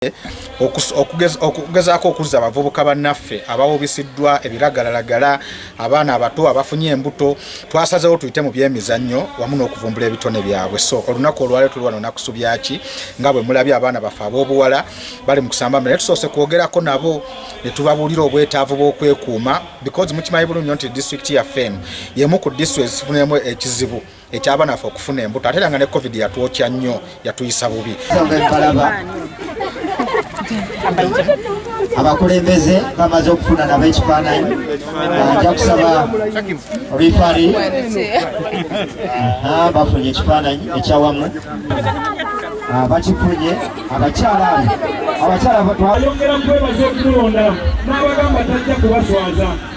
Kawempe okugezaako okuzza abavubuka bannaffe abawubisiddwa ebiragalalagala abaana abato abafunye embuto twasazewo tuyite mu byemizannyo wamu n'okuvumbula ebitone byabwe so olunaku olwale tuli wano nakusubyaki nga bwe mulabye abaana baffe ab'obuwala bali mu kusamba mire tusoose kwogerako nabo ne tubabuulira obwetaavu bw'okwekuuma because mukimanyi bulungi nyo nti disitulikiti yaffe emu yemu ku disitulikiti ezifunemu ekizibu ekyabana ffe okufuna embuto ate era nga ne covid yatwokya nnyo yatuyisa bubi abakulembeze bamaze okufuna nabo ekifaananyi nja kusaba rifari bafunye ekifaananyi ekyawamu ah, bakifunye abakyala abakyala twayongera kwebaza okumulonda n'abagamba tajja kubaswaza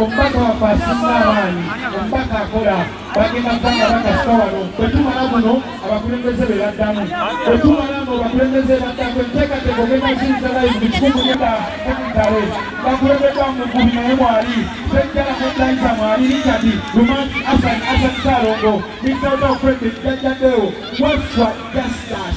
omubaka waffe asinga abaani omubaka akola bagenda kutanga bakasika wano bwetumala muno abakulembeze be baddamu bwetumala no bakulembeze baddamu enteekateeka ogenda zinza layi mu kikungu neda sekitale bakulembeddwa mugubi naye mwali sejjala kuddayiza mwali richard lumansi asan asan salongo misaotaofredi jajjadewo waswa justus